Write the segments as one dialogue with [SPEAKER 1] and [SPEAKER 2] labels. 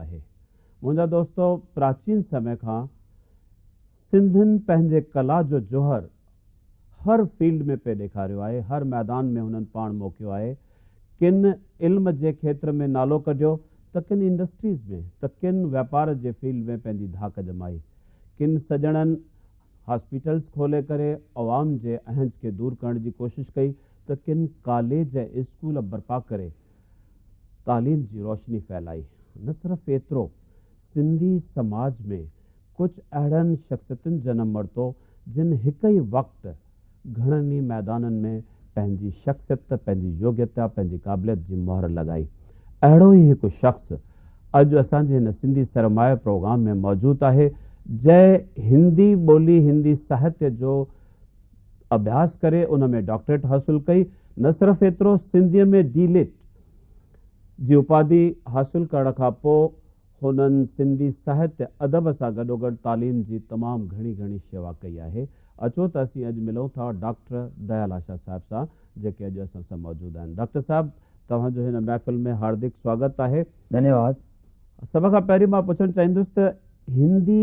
[SPEAKER 1] آهي منهنجا دوستو پراچين سمي کان سنڌين پنهنجي ڪلا جو جوهر هر فيلڊ ۾ پئي ڏيکاريو آهي هر ميدان ۾ هنن پاڻ موکيو آهي ڪن علم جي کيتر ۾ نالو ڪڍيو ته ڪن انڊسٽريز ۾ ته ڪن واپار جي فيلڊ ۾ پنهنجي ڌاڪ ڄمائي ڪن سڄڻن هاسپيٽلز کولي ڪري عوام جي اهنج کي دور ڪرڻ جي ڪوشش ڪئي ته ڪن ڪاليج ۽ اسڪول برپا ڪري تعليم جي روشني ڦهلائي، نه صرف ايترو سنڌي سماج ۾ ڪجهه اهڙن شخصيتن جنم ورتو جن هڪ ئي وقت گهڻن ئي ميدانن ۾ پنهنجي شخصيت، پنهنجي يوگيتا، پنهنجي قابليت جي مهر لڳائي. اهڙو ئي هڪ شخص اڄ اسان جي هن سنڌي سرمايه پروگرام ۾ موجود آهي جنهن هندي ٻولي، هندي ساهتيه جو. اڀياس ڪري ان ۾ ڊاڪٽريٽ حاصل ڪئي، نه صرف ايترو سنڌيء ۾ ڊي لٽ جي اپاڌي حاصل ڪرڻ کان پوء هنن سنڌي ساهتيه ادب سان گڏوگڏ تعليم جي تمام گهڻي گهڻي شيوا ڪئي آهي. اچو ته اسين اڄ ملون ٿا ڊاڪٽر ديال آشا صاحب سان جيڪي اڄ اسان سان موجود آهن. ڊاڪٽر صاحب توهان جو هن محفل ۾ هاردڪ سواگت آهي. ڌنيواد.
[SPEAKER 2] سڀ کان
[SPEAKER 1] پهرين مان پڇڻ چاهيندس ته هندي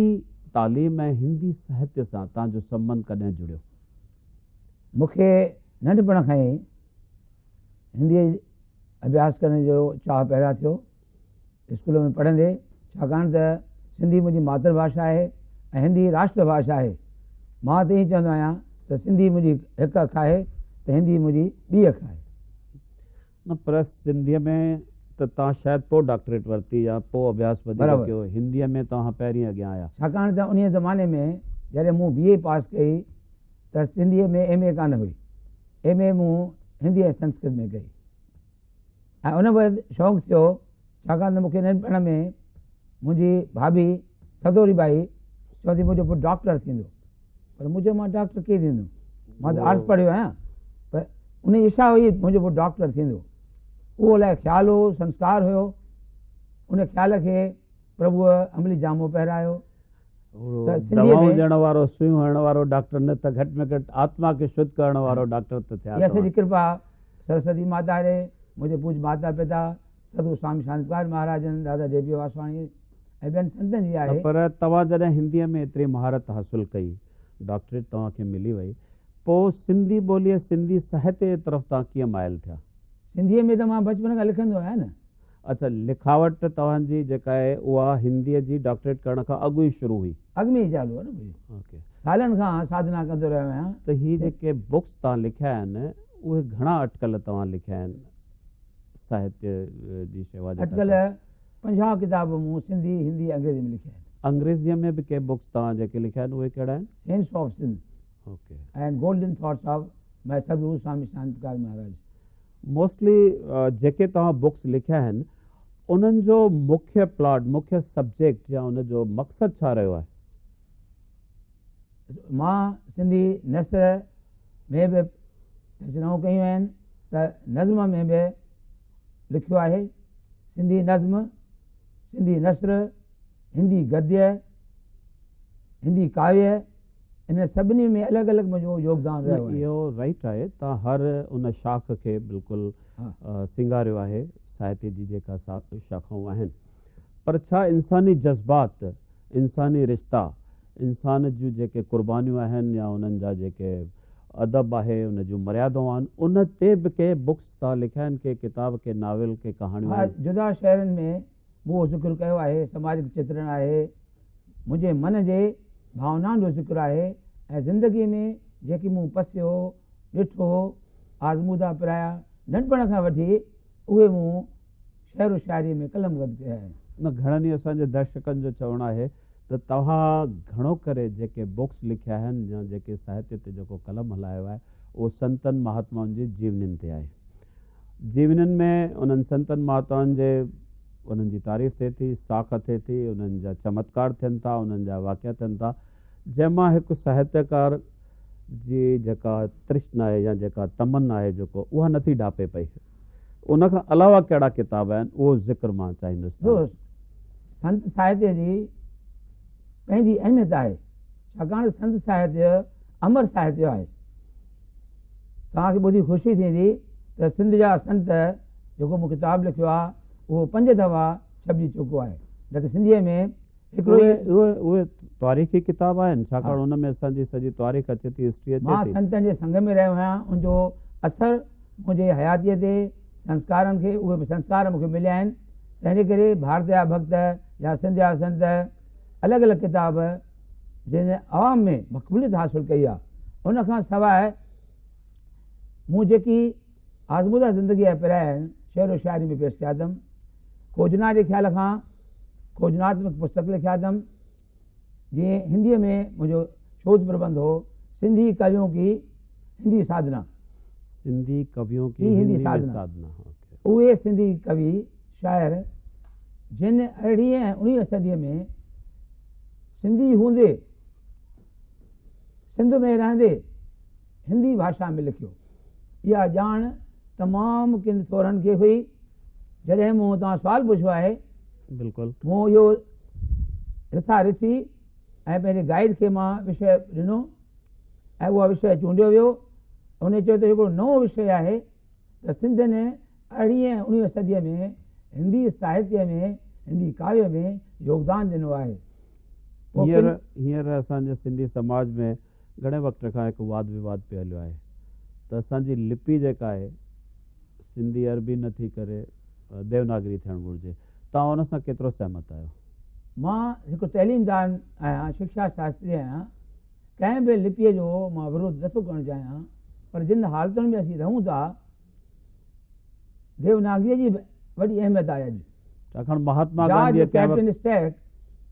[SPEAKER 1] تعليم ۽ هندي ساهتيه سان توهان جو سنبنڌ ڪڏهن جڙيو؟
[SPEAKER 2] مون کي ننڍپڻ کان ئي هنديء جي اڀياس ڪرڻ جو چاهه پيدا ٿيو اسڪول ۾ پڙهندي، ڇاڪاڻ ته سنڌي منهنجي ماتر ڀاشا آهي ۽ هندي راشٽر ڀاشا آهي. مان ته ائين چوندو آهيان ته سنڌي منهنجي هڪ اک آهي ته هندي منهنجي ٻي اک آهي. نه
[SPEAKER 1] پريس سنڌيء ۾ ته توهان شايد پوء ڊاڪٽريٽ ورتي يا پوء اڀياس وڌيڪ برابر. ڪيو، هنديء ۾ توهان پهرين اڳيان آيا. ڇاڪاڻ ته انهيء زماني
[SPEAKER 2] ۾ جڏهن مون بي اي پاس ڪئي ته سنڌيء ۾ ايم اي ڪانه هئي. ايم اي مون هندي ۽ سنسڪرت ۾ ڪئي ۽ ان بعد شونق ٿيو ڇاڪاڻ ته مون کي ننڍپڻ ۾ منهنجي ڀاڀي سدوري ٻائي چوندي منهنجو پٽ ڊاڪٽر ٿيندو. پر مون چيو مان ڊاڪٽر ڪيئن ٿيندم مان ته آرٽس پڙهيو آهيان پر ان جي اشا هئي منهنجو پٽ ڊاڪٽر ٿيندو اهو الائي خيال هو سنسڪار هيو ان خيال کي پرڀوء عملي جامو پهرايو
[SPEAKER 1] دوائون ڏيڻ وارو سوئيون هڻڻ وارو ڊاڪٽر نه ته گهٽ ۾ گهٽ آتما کي شد ڪرڻ وارو ڊاڪٽر ته ٿيا سرسوتي
[SPEAKER 2] ماتا آهي منهنجي پوج ماتا پتا سڌو سوامي شانتڪار مهاراجن، دادا جي پي واسواڻي ۽ ٻين سنتن جي آهي. پر توهان جڏهن هنديء
[SPEAKER 1] ۾ ايتري مهارت حاصل ڪئي، ڊاڪٽريٽ توهان کي ملي وئي، پوء سنڌي ٻوليء، سنڌي ساهتيه جي طرف توهان ڪيئن مائل ٿيا؟ سنڌيء ۾ ته مان
[SPEAKER 2] بچپن کان لکندو آهيان نه. اڇا، لکاوٽ
[SPEAKER 1] توهان جي جيڪا آهي، اها هنديء جي ڊاڪٽريٽ ڪرڻ کان اڳ ئي شروع هئي؟ اڳ ۾ ئي چالو هو نه.
[SPEAKER 2] سالن
[SPEAKER 1] کان ساڌنا
[SPEAKER 2] ڪندو رهيو آهيان. ته هي جيڪي
[SPEAKER 1] بڪس توهان لکيا آهن، اهي گهڻا اٽڪل توهان لکيا آهن؟ ساهتيه جي شيوا جٽا اٽڪل صاحب.
[SPEAKER 2] پنجاهه ڪتاب مون سنڌي، هندي، انگريزي ۾ لکيا آهن. انگريزيء ۾ به ڪي
[SPEAKER 1] بڪس توهان جيڪي لکيا آهن اهي ڪهڙا آهن؟ Sense of Sindh
[SPEAKER 2] okay. ۽
[SPEAKER 1] Golden thoughts
[SPEAKER 2] of ماء سدگرو سوامي شانت پرڪاش مهاراج. موسٽلي
[SPEAKER 1] جيڪي توهان بڪس لکيا آهن انهن جو مکيه پلاٽ، مکيه سبجيڪٽ يا ان جو مقصد ڇا رهيو آهي؟
[SPEAKER 2] مان سنڌي نثر ۾ به تجرائون ڪيون آهن ته نظم ۾ به لکيو آهي. سنڌي نظم، سنڌي نثر، هندي گديه، هندي ڪاويه انهن سڀني ۾ الڳ الڳ منهنجو يوگدان رهيو آهي. اهو رائيٽ آهي تان
[SPEAKER 1] هر ان شاخ کي بلڪل سينگاريو آهي ساهتي جي جيڪا شاخائون آهن پر ڇا انساني جذبات، انساني رشتا، انسان جون جيڪي قربانيون آهن يا انهن جا جيڪي ادب آهي ان جون مريادون آهن ان تي به ڪي بڪس ٿا لکيا آهن ڪي ڪتاب ڪي ناول ڪي ڪهاڻيون ها آهن. جدا شعرن ۾
[SPEAKER 2] مون اهو ذڪر ڪيو آهي سماجڪ چترڻ آهي منهنجي من جي ڀاونائن جو ذڪر آهي ۽ زندگي ۾ جيڪي مون پسيو ڏٺو آزمودا پرايا ننڍپڻ کان وٺي اهي مون شعر و شاعريء ۾ قلم گد ڪيو آهي. انهن گهڻن ئي اسان جي
[SPEAKER 1] درشڪن جو چوڻ آهي ته توهان گهڻو ڪري جيڪي بوڪس لکيا آهن يا جيڪي ساهتيه تي جيڪو قلم هلايو آهي اهو سنتن مهاتمائن جي جيونين تي آهي. جيونين ۾ انهن سنتن مهاتمائن جي انهن جي تعريف ٿئي ٿي، ساک ٿئي ٿي، انهن جا چمتڪار ٿين ٿا، انهن جا واقعا ٿين ٿا، جنهن مان هڪ ساهتيڪار جي جيڪا ترشنا آهي يا جيڪا تمنا آهي جيڪو اها نٿي ڍاپي پئي. ان کان علاوه ڪهڙا ڪتاب آهن اهو ذڪر مان چاهيندس ته. دوست، سنت
[SPEAKER 2] ساهتيه جي پنهنجي اهميت آهي، ڇاڪاڻ سنت ساهتيه امر ساهتيه آهي. توهان کي ٻڌي خوشي ٿيندي ته سنڌ جا سنت جيڪو مون ڪتاب لکيو آهي اهو پنج دفعا ڇپجي چڪو آهي نه ته سنڌيء ۾ اهي
[SPEAKER 1] تاريخي ڪتاب آهن ڇاڪاڻ ان ۾ اسان جي سڄي تاريخ اچي ٿي هسٽري اچي ٿي. مان سنتن جي سنگ
[SPEAKER 2] ۾
[SPEAKER 1] رهيو آهيان
[SPEAKER 2] ان جو اثر منهنجي حياتيء تي سنسڪارن کي اهي به سنسڪار مون کي مليا آهن تنهن جي ڪري ڀارت جا ڀڳت يا سنڌ جا سنت الڳ الڳ ڪتاب جن جي عوام ۾ مقبوليت حاصل ڪئي آهي ان کان سواء مون جيڪي آزموده زندگيء جا پرايا آهن، شعر و شاعري ۾ پيش ڪيا اٿم. کوجنا جي خيال کان کوجناتمڪ پستڪ لکيا اٿم، جي هنديء ۾ منهنجو شوڌ پربنڌ هو، سنڌي ڪويون ڪي هندي ساڌنا. سنڌي
[SPEAKER 1] ڪويون ڪي هندي ۾ ساڌنا.
[SPEAKER 2] اهي سنڌي ڪوي، شاعر، جن ارڙهين ۽ اڻويهين صديء ۾ سنڌي هوندي، سنڌ ۾ رهندي، هندي ڀاشا ۾ لکيو. اها ڄاڻ تمام ڪن سورن کي هئي. جڏهن مون هتان سوال پڇيو آهي. بلڪل.
[SPEAKER 1] مون اهو
[SPEAKER 2] رٿا رٿي ۽ پنهنجي گائيڊ کي مان وشيه ڏنو ۽ اها وشيه چونڊيو ويو. ان چيو ته اهو هڪڙو نئون وشيه آهي ته سنڌ ۾ ارڙهين ۽ اڻويهين صديء ۾ هندي ساهتيه ۾ هندي ڪاويه ۾ يوگدان ڏنو آهي. هينئر
[SPEAKER 1] هينئر اسان جي سنڌي سماج ۾ گهڻي وقت کان هڪ واد وواد پئي هليو آهي ته اسان جي لپي جيڪا آهي سنڌي عربي نه ٿي ڪري ديوناگري ٿيڻ گهرجي توهان ان سان ڪيترو سهمت آهيو؟ مان
[SPEAKER 2] هڪ تعليمدان آهيان شڪشا شاستري آهيان ڪنهن به لپيء جو مان ورود نٿو ڪرڻ چاهيان پر جن حالتن ۾ اسين رهون ٿا ديوناگريء جي به وڏي اهميت آهي اڄ. ڇاڪاڻ مهاتما گانڌيء
[SPEAKER 1] جارج ڪنهن وقت. ڪيپٽن
[SPEAKER 2] اسٽيڪ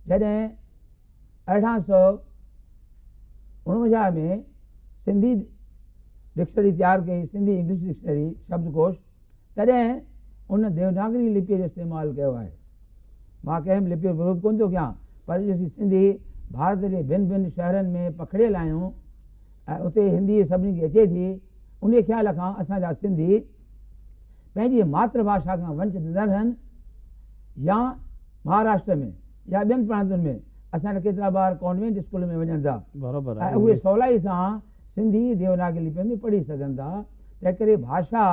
[SPEAKER 2] جڏهن ارڙهن سؤ اڻونجاهه ۾ سنڌي ڊڪشنري تيار ڪئي، سنڌي انگلش ڊڪشنري، شبدڪوش، تڏهن ان ديوناگري لپيء جو استعمال ڪيو آهي. مان ڪنهن به لپيء جو ورود ڪونه ٿو ڪيان، پر اڄ اسين سنڌي ڀارت جي ڀن ڀن شهرن ۾ پکڙيل آهيون، اتي هندي سڀني کي اچي ٿي، انهيء خيال کان اسان جا سنڌي پنهنجي ماتر ڀاشا کان ونچت نه رهن يا مهاراشٽر ۾ يا ٻين پرانتن ۾ اسان جا ڪيترا ٻار ڪانوينٽ اسڪولن ۾ وڃن ٿا ۽ اهي سولائي سان سنڌي ديوناگري لپيء ۾ پڙهي سگهن ٿا، تنهنڪري ڀاشا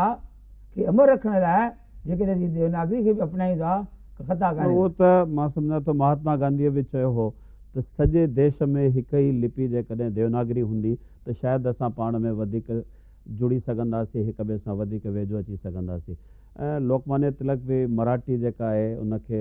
[SPEAKER 2] کي امر رکڻ لاء، جيڪڏهن اسين ديوناگري کي به اپنائيون ٿا ته خطا ڪانهي ڪو. اهو ته مان سمجهان
[SPEAKER 1] ٿو مهاتما گانڌيء به چيو هو ته سڄي ديش ۾ هڪ ئي لپي جيڪڏهن ديوناگري هوندي ته شايد اسان پاڻ ۾ وڌيڪ جڙي سگهنداسين هڪ ٻئي سان وڌيڪ ويجهو اچي سگهنداسين ۽ لوڪمانيا تلڪ به مراٺي جيڪا آهي ان کي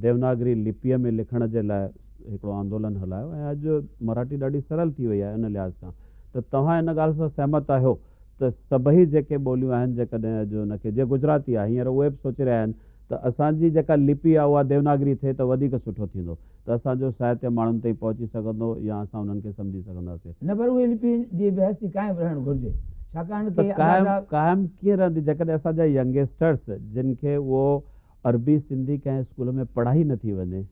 [SPEAKER 1] ديوناگري لپيء ۾ لکڻ جي لاء هڪڙو آندولن هلايو ۽ اڄ مراٺي ڏاڍي سرل ٿي وئي آهي ان لحاظ کان ته توهان ان ڳالهه سان سهمت آهيو ته سڀئي جيڪي ٻوليون آهن جيڪڏهن اڄ ان کي جيئن گجراتي آهي هينئر اهي به سوچي رهيا آهن ته اسان جي جيڪا لپي آهي اها ديوناگري ٿئي ته وڌيڪ سٺو ٿيندو ته اسان جو ساهتيه ماڻهن تائين پهچي سگهندو يا اسان انهن کي سمجهي سگهنداسين. نه پر اهي لپي
[SPEAKER 2] جي به هستي قائم رهڻ گهرجي ڇاڪاڻ ته ته
[SPEAKER 1] قائم قائم ڪيئن رهندي جيڪڏهن اسان جا ينگيسٽرس جن کي اهو عربي سنڌي ڪنهن اسڪول ۾ پڙهائي نه ٿي وڃي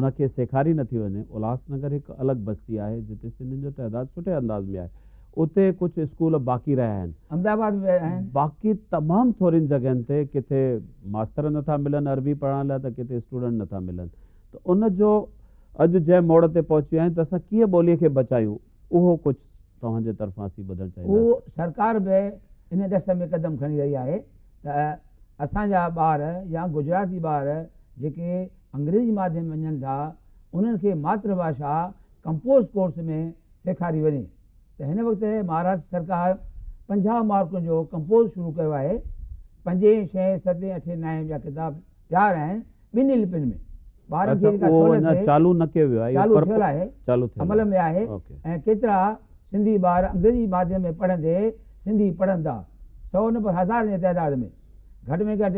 [SPEAKER 1] ان کي سيکاري نه ٿي وڃي الهاس نگر هڪ الڳ بستي آهي جتي سنڌين جو تعداد سٺي انداز ۾ آهي اتي ڪجهه اسڪول باقي رهيا آهن احمد آباد ۾ آهن
[SPEAKER 2] باقي تمام
[SPEAKER 1] ٿورين جڳهين تي ڪٿي ماستر نه ٿا ملن عربي پڙهائڻ لاء ته ڪٿي اسٽوڊنٽ نه ٿا ملن ته ان جو اڄ جنهن موڙ تي پهچي ويا آهيون ته اسان ڪيئن ٻولي کي بچايون اهو ڪجهه توهان جي طرفان اسين ٻڌڻ چاهينداسين. اهو سرڪار به
[SPEAKER 2] ان ڏس ۾ قدم کڻي رهي آهي ته اسان جا ٻار يا گجراتي ٻار جيڪي انگريزي ماڌيم وڃن ٿا انهن کي ماتر ڀاشا ڪمپوز ڪورس ۾ سيکاري وڃي ته هن وقت مهاراشٽر سرڪار پنجاهه مارڪن جو ڪمپوز شروع ڪيو آهي پنجين، ڇهين، ستين، اٺين، نائين جا ڪتاب تيار آهن ٻنهي لپين ۾. ٻارهن جي جيڪا سهولت
[SPEAKER 1] تي چالو
[SPEAKER 2] ٿيل آهي، عمل ۾ آهي ۽ ڪيترا سنڌي ٻار انگريزي ماڌيم ۾ پڙهندي سنڌي پڙهن ٿا، سئو نه پر هزارن جي تعداد ۾. گهٽ ۾ گهٽ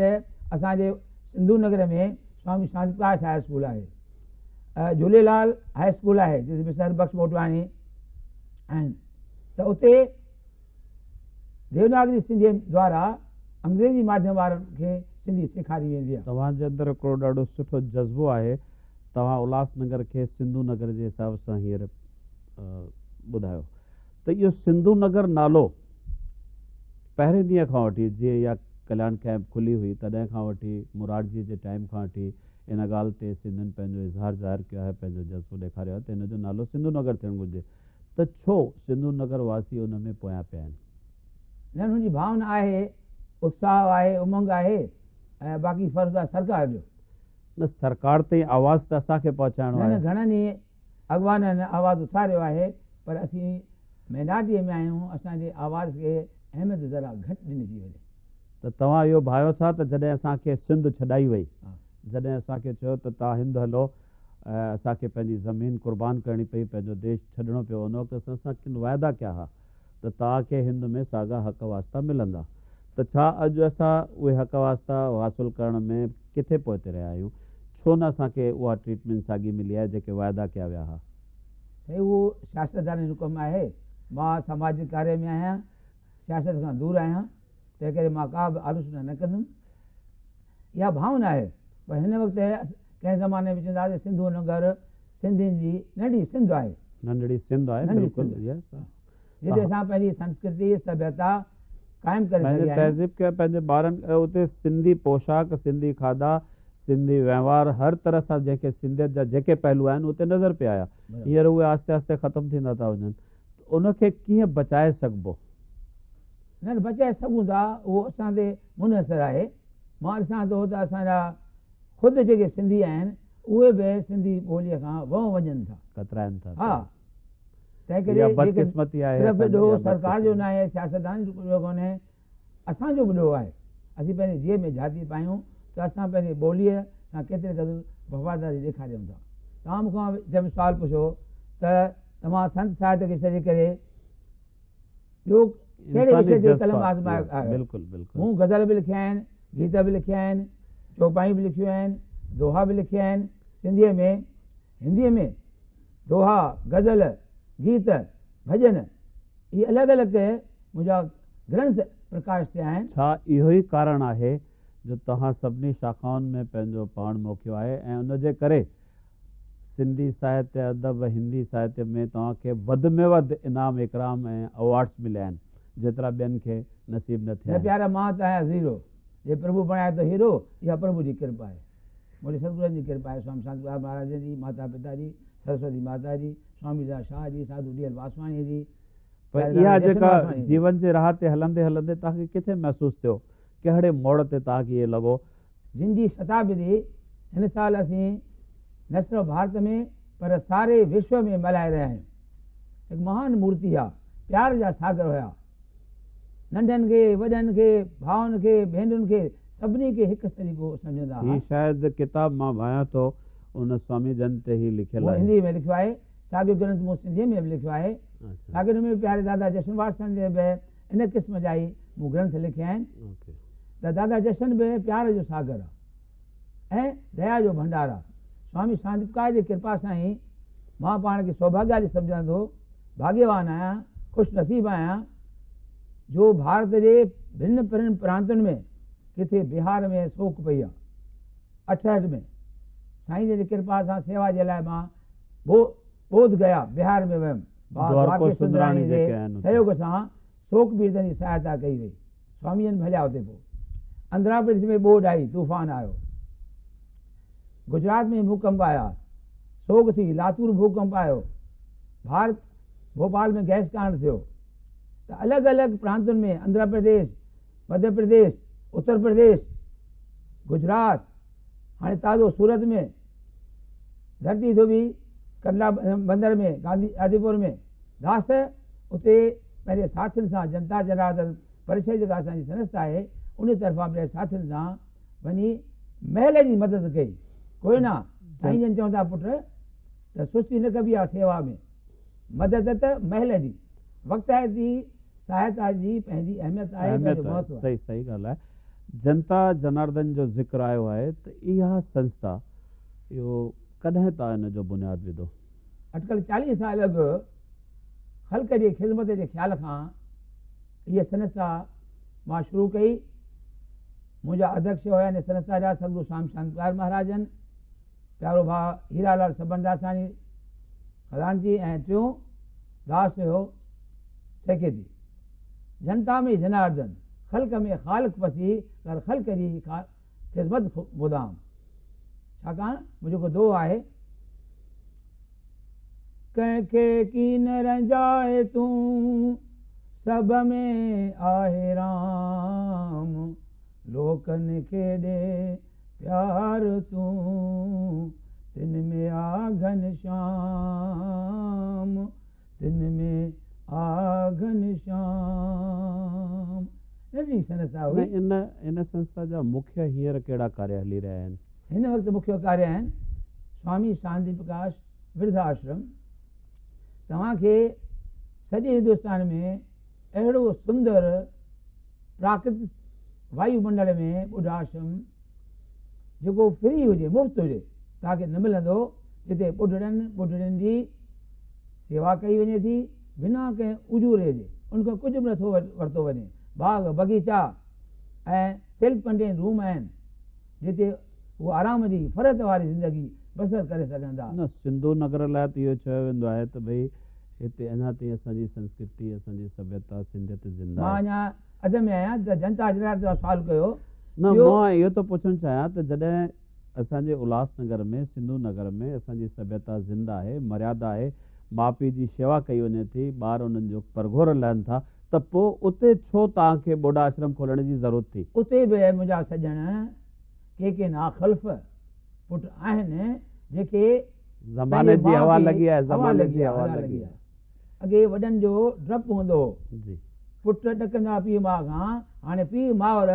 [SPEAKER 2] اسان جي سنڌو نگر ۾ سوامي شانتي پرڪاش هاء اسڪول آهي، جهوليلال هاء اسڪول آهي جس ۾ سر بخش موٽواڻي آهن ته اتي. ديوناگري سنڌيء دوارا انگريزي ماڌيم وارن کي سنڌي سيکاري ويندي آهي. توهان جي اندر هڪڙو ڏاڍو
[SPEAKER 1] سٺو جذبو آهي. توهان الهاس نگر کي سنڌو نگر جي حساب سان هينئر ٻڌايو ته اهو سنڌو نگر نالو پهرين ڏينهن کان وٺي جيئن اها ڪليان ڪئمپ کلي هئي تڏهن کان وٺي مورارجيء جي ٽائيم کان وٺي ان ڳالهه تي سنڌين پنهنجو اظهار ظاهر ڪيو آهي پنهنجو جذبو ڏيکاريو آهي ته هن جو نالو سنڌو نگر ٿيڻ گهرجي. ته ڇو سنڌو نگر واسي ان ۾ پويان پيا آهن. ڄڻ هن
[SPEAKER 2] جي ڀاونا آهي، اتساهه آهي، امنگ آهي ۽ باقي فرض آهي سرڪار جو. نه
[SPEAKER 1] سرڪار تائين آواز ته اسان کي پهچائڻو آهي. نه نه گهڻن ئي
[SPEAKER 2] اڳواڻن آواز اٿاريو آهي پر اسين مينارٽيء ۾ آهيون اسان جي آواز کي اهميت ذرا گهٽ ڏني ٿي وڃي. ته توهان
[SPEAKER 1] اهو ڀانئيو ٿا ته جڏهن اسان کي سنڌ ڇڏائي وئي جڏهن اسان
[SPEAKER 2] کي چيو
[SPEAKER 1] ته توهان هند هلو ۽ اسان کي پنهنجي زمين قربان ڪرڻي پئي، پنهنجو ديش ڇڏڻو پيو، ان وقت اسان سان ڪن واعدا ڪيا ها ته توهان کي هند ۾ ساڳا حق واسطا ملندا، ته ڇا اڄ اسان اهي حق واسطا حاصل ڪرڻ ۾ ڪٿي پوئتي رهيا آهيون؟ ڇو نه اسان کي اها ٽريٽمينٽ ساڳي ملي آهي، جيڪي واعدا ڪيا ويا ها؟ سائين اهو
[SPEAKER 2] سياستدانن جو ڪم آهي، مان سماجي ڪاري ۾ آهيان، سياست کان دور آهيان. تنهن ڪري مان ڪا به آلوچنا نه ڪندم. اها ڀانء ناهي پر هن وقت ڪنهن زماني ۾ چوندا هئا ته سنڌو ننگر سنڌين جي ننڍي سنڌ آهي. ننڍڙي سنڌ آهي
[SPEAKER 1] بلڪل
[SPEAKER 2] جتي
[SPEAKER 1] اسان
[SPEAKER 2] پنهنجي سنسڪرتي سڀيتا قائم ڪري سگهيا آهيون. تهذيب کي پنهنجي ٻارن
[SPEAKER 1] اتي سنڌي پوشاڪ سنڌي کاڌا سنڌي وهنوار هر طرح سان جنهن کي سنڌيت جا جيڪي پهلو آهن اتي نظر پي آيا هينئر اهي آهستي آهستي ختم ٿيندا ٿا وڃن. ته ان کي ڪيئن بچائي سگهبو؟
[SPEAKER 2] نھ بچائي سگهون ٿا، اهو اسان تي منحصر آهي. مان ڏسان ٿو ته اسان جا خود جيڪي سنڌي آهن، اهي به سنڌي ٻوليء کان ونء وڃن ٿا. ڪترائن ٿا. ها. تنهنڪري جيڪڏهن صرف
[SPEAKER 1] ڏوھ سرڪار
[SPEAKER 2] جو ناهي، سياستدانن جو ڪونهي. اسان جو به ڏوهه آهي اسين پنهنجي جيء ۾ جهاتي پايون ته اسان پنهنجي ٻوليء سان ڪيتري قدر وفاداري ڏيکاريون ٿا. توهان مون کان جنهن به سوال پڇيو ته توهان سنت ساهت کي ڇڏي ڪري ٻيو ڪهڙي وشي تي قلم آزمايو آهيو؟ مون غزل
[SPEAKER 1] به لکيا آهن،
[SPEAKER 2] گيت به لکيا آهن، چوپايون به لکيون آهن، دوها به لکيا آهن، سنڌيء ۾ هنديء ۾ دوها، غزل، گيت، ڀڄن، هي الڳ الڳ منهنجا گرنٿ پرڪاش ٿيا آهن. ڇا اهو ئي ڪارڻ
[SPEAKER 1] آهي جو توهان سڀني شاخائن ۾ پنهنجو پاڻ موکيو آهي ۽ ان جي ڪري سنڌي ساهتيه ادب ۽ هندي ساهتيه ۾ توهان کي وڌ ۾ وڌ انعام اڪرام ۽ ايوارڊس مليا آهن جيترا ٻين کي نصيب نه ٿيا آهن. پيارا مان ته آهيان زيرو
[SPEAKER 2] جي پرڀو بڻايو ٿو هيرو اها پرڀو جي ڪرپا آهي مون تي ستگرن جي ڪرپا آهي سوامي شانتي پرساد مهاراج جي ماتا پتا جي سرسوتي ماتا جي سوامي ضياء شاهه جي، ساڌو ڊي ايل واسواڻيء جي، پر پياري اها لاڙو
[SPEAKER 1] جيڪا جشن واسواڻيء جي. جيون جي راهه تي هلندي هلندي توهان کي ڪٿي محسوس ٿيو؟ ڪهڙي موڙ تي توهان کي اهي لڳو؟ جن جي
[SPEAKER 2] شتابدي هن سال اسين نه صرف ڀارت ۾ پر ساري وشو ۾ ملهائي رهيا آهيون. هڪ مهان مورتي آ. پيار جا ساگر هيا. ننڍن کي، وڏن کي، ڀائن کي، ڀينرن کي سڀني کي هڪ سريگو سمجهندا هئا. هي شايد ڪتاب مان
[SPEAKER 1] ڀانيان ٿو. ان سوامي جن تي هي لکيل آهي. مون هنديء ۾ لکيو آهي.
[SPEAKER 2] ساڳيو گرنٿ مون سنڌيء ۾ به لکيو آهي. ساڳيو نموني پياري دادا جشن وارثن جي به ان قسم جا ئي مون گرنٿ لکيا آهن ته دادا جشن به پيار جو ساگر آ ۽ ديا جو ڀنڊار آ. سوامي ساندپڪار جي ڪرپا سان ئي مان پاڻ کي سوڀاگيالي سمجهندو ڀاڳيوان آهيان، خوش نصيب آهيان جو ڀارت جي ڀن پرين پرانتن ۾ ڪٿي بهار ۾ سوڪ پئي آ. اٺهٺ ۾ سائين جن جي ڪرپا سان سيوا جي لاء مان بو بوڌ گيا، بهار، ۾ ويم. بابا دوارڪو سندراڻي جي سهيوڳ سان سوڪ پيڙتن جي سهائتا ڪئي وئي. سوامي جن ڀليا اتي پو. اندرا پرڏيس ۾ ٻوڏ آئي، طوفان آيو. گجرات ۾ ڀوڪمپ آيا، سوڳ ٿي. لاتور ڀوڪمپ آيو. ڀارت، ڀوپال ۾ گئس ڪانڊ ٿيو. ته الڳ الڳ پرانتن ۾ اندرا پرديس، مڌيه پرديش، اتر پرديش، گجرات هاڻي تازو سورت ۾ ڌرتي ڌوٻي ڪنڊلا بندر ۾ گانڌي آديپور ۾ گاس اتي پنهنجي ساٿين سان جنتا جناردن پرشد جيڪا اسان جي سنست آهي ان طرفان پنهنجي ساٿين سان وڃي محل جي مدد ڪئي ڪوئنا سائين جن چون ٿا پٽ ته سستي نه ڪبي آهي سيوا ۾ مجدت محل جي وقتائت جي سهائتا جي پنهنجي اهميت آهي ۽ پنهنجو مهتو آهي. اهميت آهي، صحيح صحيح ڳالهه آهي.
[SPEAKER 1] جنتا جناردن جو ذڪر آيو آهي ته اها سنسٿا اهو ڪڏهن تان ان جو بنياد وڌو؟ اٽڪل چاليهه
[SPEAKER 2] سال اڳ خلق جي خذمت جي خيال کان هيء سنسٿا مان شروع ڪئي. منهنجا اڌيڪش هيا ان سنسٿا جا سدگرو شام شانڪلار مهاراجن. پيارو ڀاء هيرا لال سبنداساڻي خزانچي ۽ ٽيون داس هيو سيڪريٽري. جنتا ۾ جناردن، خلق ۾ خالق پسي ڪر خلق جي خذمت مدام. ڇاڪاڻ منهنجو هڪ دوهو آهي. ڪنهن کي ڪين رنجاء تون، سڀ ۾ آهي رام. لوڪن کي ڏي پيار تون تن ۾ آ گهنشام تن ۾ آ گهنشام ننڍڙي سنسٿا هئي. ان ان سنسٿا
[SPEAKER 1] جا مکيه هينئر ڪهڙا ڪاريه هلي رهيا آهن؟ هن وقت مکيه
[SPEAKER 2] ڪاريه آهن سوامي شانتي پرڪاش ورڌا آشرم توهان کي سڄي هندوستان ۾ اهڙو سندر پراڪرت وايو منڊل ۾ ٻڍاشرم جيڪو فري هجي، مفت هجي، توهان کي نه ملندو، جتي ٻڍڙن، ٻڍڙين جي سيوا ڪئي وڃي ٿي، بنا ڪنهن اجوري جي، ان کان ڪجهه به نه ٿو ورتو وڃي، باغ، بغيچا ۽ سيلف ڪنٽينڊ روم آهن. جتي هو آرام جي فرحت واري زندگي بسر ڪري سگهن ٿا. نه سنڌو نگر لاء
[SPEAKER 1] ته اهو چيو ويندو آهي ته ڀئي هتي اڃا تائين اسان جي سنسڪرتي، اسان جي سڀيتا، سنڌيت زنده آهي. مان اڃا اڌ ۾
[SPEAKER 2] آهيان ته جنتا حضرات جو سوال ڪيو. نه مان
[SPEAKER 1] اهو ٿو پڇڻ چاهيان ته جڏهن اسان جي الهاس نگر ۾ سنڌو نگر ۾ اسان جي سڀيتا زنده آهي، مريادا آهي، ماء پيء جي شيوا ڪئي وڃي ٿي، ٻار انهن جو پرگهور لهن ٿا، ته پوء اتي ڇو توهان کي ٻوڏا آشرم کولڻ جي ضرورت ٿي؟ اتي به منهنجا
[SPEAKER 2] سڄڻ ڪي ڪي ناخلف پٽ آهن، جيڪي زماني
[SPEAKER 1] جي هوا لڳي آهي، زماني جي هوا لڳي آهي.
[SPEAKER 2] اڳي وڏن جو ڊپ هوندو هو. پٽ
[SPEAKER 1] ڏڪندا
[SPEAKER 2] پيء ماء کان، هاڻي پيء مائر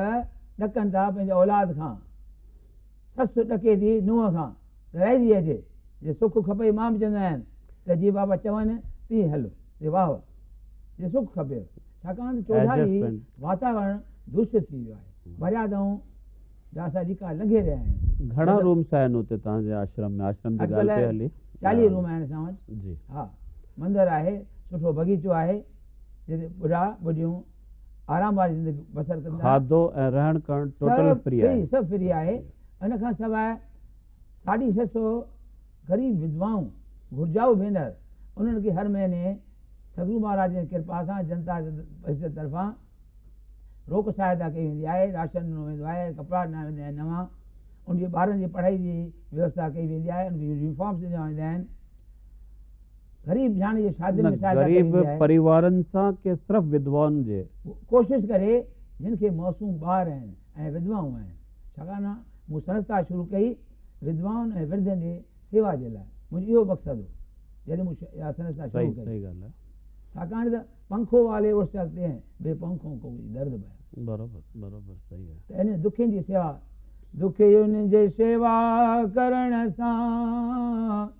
[SPEAKER 2] ڏڪن ٿا پنهنجي اولاد کان. سس ڏڪي ٿي نونهن کان، گهرائجي اچي، جي سک کپئي مان به چوندو آهيان ته جيئن بابا چون تيئن هل، جي واهه واهه، جي سک کپيو، ڇاڪاڻ ته چوڌاري واتاورڻ دوشت ٿي ويو آهي، مريادائون جا اسان ليڪا لنگهي رهيا آهيون. گهڻا رومس آهن
[SPEAKER 1] اتي توهان جي آشرم ۾؟ آشرم جي ڳالهه پئي هلي. چاليهه روم آهن اسان
[SPEAKER 2] وٽ. جي. ها.
[SPEAKER 1] مندر
[SPEAKER 2] آهي، سٺو بغيچو آهي، جتي ٻڍا ٻڍيون. آرام واري زندگي بسر ڪندا. کاڌو ۽ رهڻ
[SPEAKER 1] ڪهڻ ٽوٽل فري آهي. سڀ سڀ فري آهي.
[SPEAKER 2] ان کان سواء ساڍي ڇهه سؤ غريب وڌوائون، گهرجائو ڀينر، انهن کي هر مهيني سگرو مهاراج جي ڪرپا سان جنتا جي حيثيت طرفان روڪ سهائتا ڪئي ويندي آهي، راشن ڏنو ويندو آهي، ڪپڙا ڏنا ويندا آهن نوان، ان جي ٻارن جي پڙهائي جي ويوسٿا ڪئي ويندي آهي، ان کي يونيفارمز ڏنا ويندا آهن. غريب نياڻي جي شادين ۾ شايد ڪري ويندي آهي. غريب پريوارن سان ڪي
[SPEAKER 1] صرف وڌوائن جي. ڪوشش ڪري
[SPEAKER 2] جن کي معصوم ٻار آهن ۽ وڌوائون آهن ڇاڪاڻ ته مون سنسٿا شروع ڪئي وڌوائن ۽ ورڌين جي سيوا جي لاء منهنجو اهو مقصد هو جڏهن مون اها سنسٿا شروع ڪئي
[SPEAKER 1] ڇاڪاڻ ته
[SPEAKER 2] پنکو والي اڙس چلتي هين بي پنکون ڪو ڪجهه درد بيان برابر برابر
[SPEAKER 1] صحيح آهي ته انهن دکين جي سيوا
[SPEAKER 2] دکين جي سيوا ڪرڻ سان.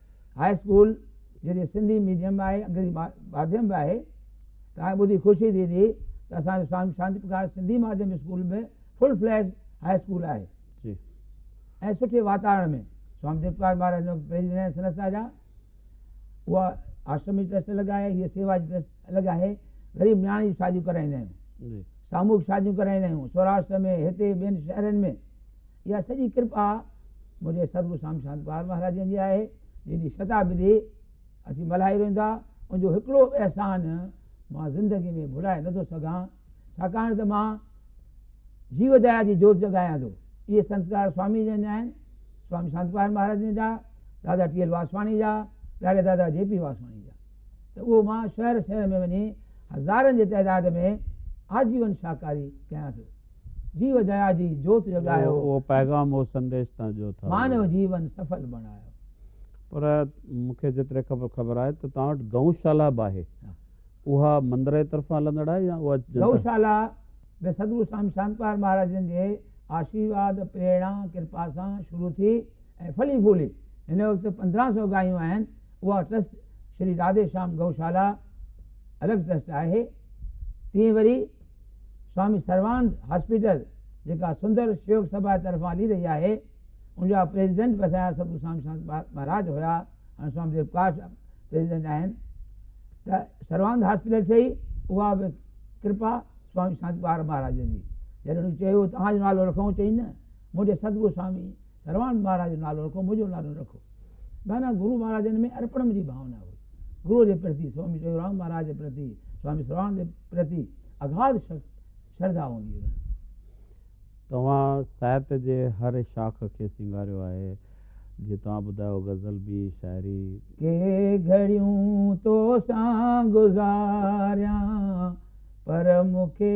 [SPEAKER 2] هاء اسڪول جيڪي سنڌي ميڊيم به آهي انگريزي ماڌيم به آهي تنهن ٻڌي خوشي ٿيندي ته اسان جو سوامي شانتي پرڪاش سنڌي ماڌيم اسڪول به فل فليج هاء اسڪول آهي جي
[SPEAKER 1] ۽ سٺي
[SPEAKER 2] واتاورڻ ۾ سوامي ديو پرڪاش مهاراج جو پريزيڊنٽ سنس راجا اها آشرم جي ٽرسٽ الڳ آهي هيء سيوا جي ٽرسٽ الڳ آهي غريب نياڻي جون شاديون ڪرائيندا آهيون ساموهڪ شاديون ڪرائيندا آهيون سوراشٽر ۾ هتي ٻين شهرن ۾ اها سڄي ڪرپا منهنجي سرگو سام شانتپال مهاراجن جي آهي، جن جي شتابدي اسين ملهائي ويندا، ان جو هڪڙو به احسان مان زندگي ۾ ڀلائي نه ٿو سگهان، ڇاڪاڻ ته مان جيو ديا جي جوت جڳايان ٿو. اهي سنسڪار سوامي جن جا آهن، سوامي شانتپال مهاراجن جا، دادا ٽي ايل واسواڻي جا، پياري دادا جي پي واسواڻي جا ته اهو مان شهر شهر ۾ وڃي هزارن جي تعداد ۾ آجيون شاهڪاري ڪيان ٿو. جيو ديا جي جوت جڳايو. اهو پيغام اهو
[SPEAKER 1] سنديش تان جو ٿا. مانو جيون سڦل
[SPEAKER 2] بڻايو. پر
[SPEAKER 1] مون کي جيتري خبر خبر آهي ته توهان وٽ گئون شالا به آهي اها مندر جي طرفان هلندڙ آهي يا اها جنت. گئون شالا
[SPEAKER 2] به سدگرو سوامي شانت پال مهاراج جن جي آشيرواد پريڙا ڪرپا سان شروع ٿي ۽ ڦلي ڦولي هن وقت پندرهن سو گايون آهن اها ٽرسٽ شري راڌي شيام گئون شالا الڳ ٽرسٽ آهي تيئن وري سوامي سروانند هاسپيٽل جيڪا سندر شيوڪ سڀا جي طرفان هلي رهي آهي ان جا پريزيڊنٽ به اسان جا سڌو سوامي سانت مهاراج هيا هاڻي سوامي ديو پرڪاش پريزيڊنٽ آهن ته سروانند هاسپيٽل ٺهي اها به ڪرپا سوامي سانت مهاراج جي جڏهن چيو تهان جو نالو رکون چئي نه منهنجي سڌو سوامي سروان مھاراج جو نالو رکو، منھنجو نالو نه رکو. معنيٰ گرو مھاراجن ۾ ارپڻ جي ڀاونا هئي. گرو جي پرتي، سوامي ٽيئورام مھاراج جي پرتي، سوامي سروان جي پرتي اگھاڌ شرڌا هوندي هئي انهن کي.
[SPEAKER 1] توهان ساهت جي هر شاخ کي سينگاريو آهي، جيئن توهان ٻڌايو غزل به شاعري. ڪي
[SPEAKER 2] گهڙيون تو سان گذاريان پر مون کي.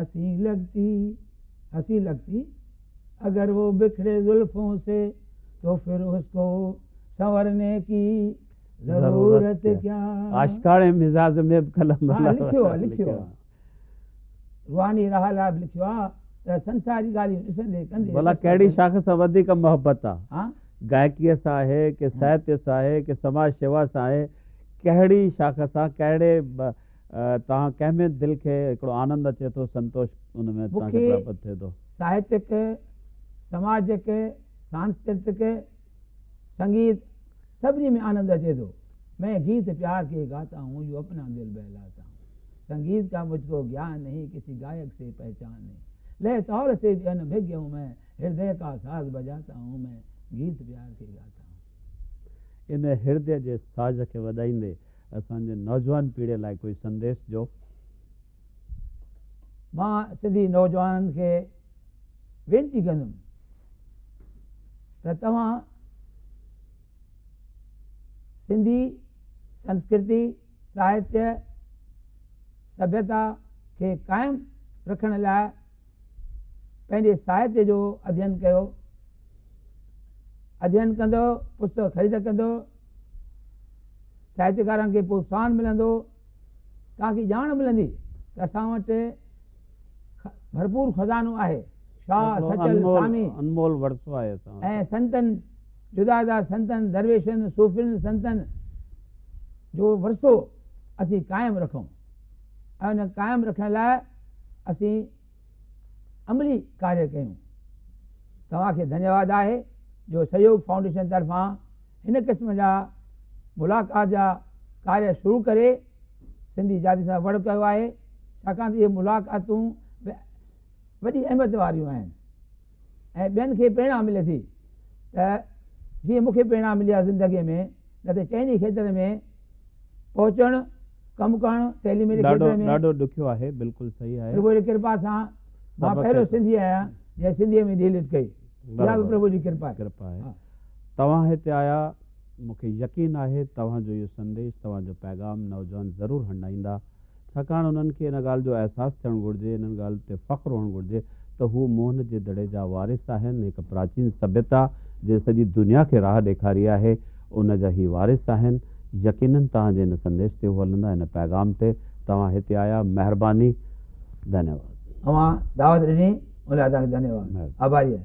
[SPEAKER 2] هسي لگتي هسي لگتي اگر وو بکڙي زلفون سي تو ڦر اس ڪو سنورني ڪي ضرورت ڪيا عاشقاڻي مزاج
[SPEAKER 1] ۾ به قلم هان لکيو آهي لکيو آهي
[SPEAKER 2] روحاني راهه لاء به لکيو آهي ته سنساري ڳالهيون ڏسندي ڪندي بلا ڪهڙي شاخ سان
[SPEAKER 1] وڌيڪ محبت آهي گائڪيء
[SPEAKER 2] سان
[SPEAKER 1] آهي ڪي ساهتيه سان آهي ڪي سماج شيوا سان آهي ڪهڙي شاخ سان ڪهڙي تان ڪنهن ۾ دل کي هڪڙو آنند اچي ٿو سنتوش ان ۾ تان کي پراپت ٿئي ٿو. ساهتڪ،
[SPEAKER 2] سماجڪ، سانسڪرتڪ، سنگيت سڀني ۾ آنند اچي ٿو. مين گيت پيار ڪي گاتا هون جو اپنا دل بهلاتا هون. سنگيت ڪا مجھ ڪو گيان نهين ڪسي گائڪ سي پهچان نهين. لئه تال سي بي انڀگيا هون مين هردئه ڪا ساز بجاتا هون مين گيت پيار ڪي گاتا هون. ان هردي جي
[SPEAKER 1] ساز کي وڏائيندي اسان جي نوجوان پيڙهي لاء ڪوئي سنديش ڏيو.
[SPEAKER 2] مان سنڌي نوجوانن کي وينتي ڪندم ته توهان سنڌي سنسڪرتي ساهتيه سڀيتا کي قائم رکڻ لاء پنهنجي ساهتيه جو اڌين ڪيو. اڌين ڪندو، پستڪ خريد ڪندو، ساهتيڪارن کي پروتساهن ملندو، توهان کي ڄاڻ ملندي ته اسان وٽ ڀرپور خزانو آهي. شاهه، سچل، سامي
[SPEAKER 1] ۽ سنتن،
[SPEAKER 2] جدا جدا سنتن، درويشن، صوفين، سنتن جو ورثو اسين قائم رکون. ۽ ان کي قائم رکڻ لاء اسين عملي ڪاري ڪيون توهان کي ڌنيواد آهي جو سهيوگ فائونڊيشن طرفان هن قسم جا ملاقات جا ڪاري شروع ڪري سنڌي جاتي سان وڙ ڪيو آهي ڇاڪاڻ ته اهي ملاقاتون وڏي اهميت واريون آهن ۽ ٻين کي پريڻا ملي ٿي ته جيئن مون کي پريڻا ملي آهي زندگي ۾ نه ته چئني کيتر ۾ پهچڻ ڪم ڪرڻ تعليم جي کيتر ۾ ڏاڍو ڏکيو آهي بلڪل
[SPEAKER 1] صحيح آهي پرڀو جي ڪرپا سان
[SPEAKER 2] مان پهريون سنڌي آهيان جنهن سنڌي ۾ ڊي ليٽ ڪئي اها به پرڀو جي ڪرپا آهي
[SPEAKER 1] توهان هتي آيا مون کي يقين آهي توهان جو اهو سنديش توهان جو پيغام نوجوان ضرور هنڊائيندا ڇاڪاڻ انهن کي ان ڳالهه جو احساس ٿيڻ گهرجي، انهن ڳالهه تي فخر هئڻ گهرجي ته هو موهن جي دڙي جا وارث آهن، هڪ پراچين سڀيتا جنهن سڄي دنيا کي راهه ڏيکاري آهي، ان جا هي وارث آهن. يقينن توهان جي ان سنديش تي هو هلندا، هن پيغام تي توهان هتي آيا، مهرباني.
[SPEAKER 2] ڌنيواد. اوهان دعوت
[SPEAKER 1] ڏني ان لاء
[SPEAKER 2] توهان کي
[SPEAKER 1] ڌنيواد.
[SPEAKER 2] آڀاري آهيان.